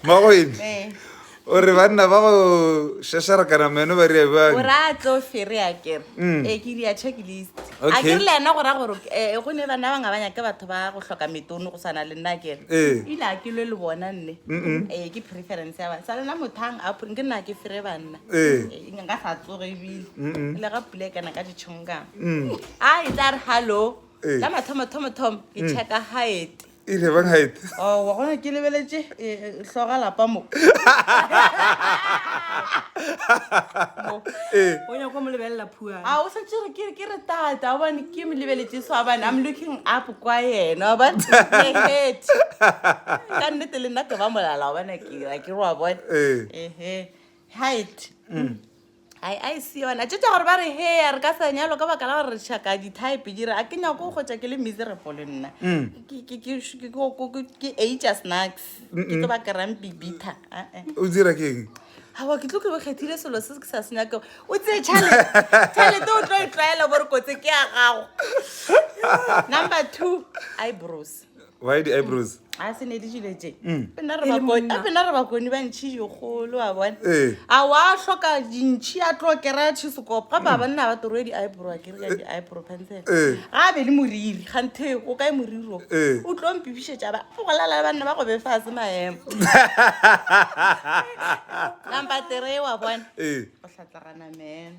Magoedi o re banna ba go šašarakana meno ba rea bjang? o ra tlo fere a kere Mm. e ke ria checklist a Okay. kere le ena go ra gore eh, go ne bana ba ngabanya ke batho ba go hloka metono go sana le nna a kere Ee. ile a ke lwe le bona nne Mm-mm. ee ke preference ya bana sa lena mothang a pre- nke nna ke fere banna Ee. Eh, nka sa tsoge ebile Mm-mm. le ga pula e kana ka ditšhongkang Mm. a e tla re hallo Ee. ka mathomo thomo thomo ke checka haete e re bang ga ete oh wa gona ke lebeletše e, e, hloga lapa mo ee o nyaka go mo lebelela phuana a o setse re ke ke re tata o bane ke mo lebeletše so abane i'm looking up kwa yena ba head ka nnete le nna ke ba molala wa bana ke ra ke roa bone Ee. ehe height ai a e se yona tšetša gore ba re heya re ka sa nyalo ka baka la gore re šaka di-type jere a ke nyako go kgotsa ke le miserable le nna mm. ke aja snacks ke tlo ba kerang bibitha o dira ke eng awa ke tlo ke bokgethile selo se ke sa se nyake o tseye chalete o tlo e tlwaela bore kotse ke ya gago number two i bros why di eyebrows a se ne di dilo tse pena re bakoni a pena re bakoni ba ntšhi yo kholo wa bona Eh. a wa hloka dintšhi a tlo kera tshisekopo ga ba banna ba toroe di eyebrow a kere ka di eyebrow pencil Eh. ga be le moriri ga nthe o kae moriri o Eh. o tlo mpipišetša ba go lala le banna ba go be fa se maemo number three wa bona Eh. o hlatlagana man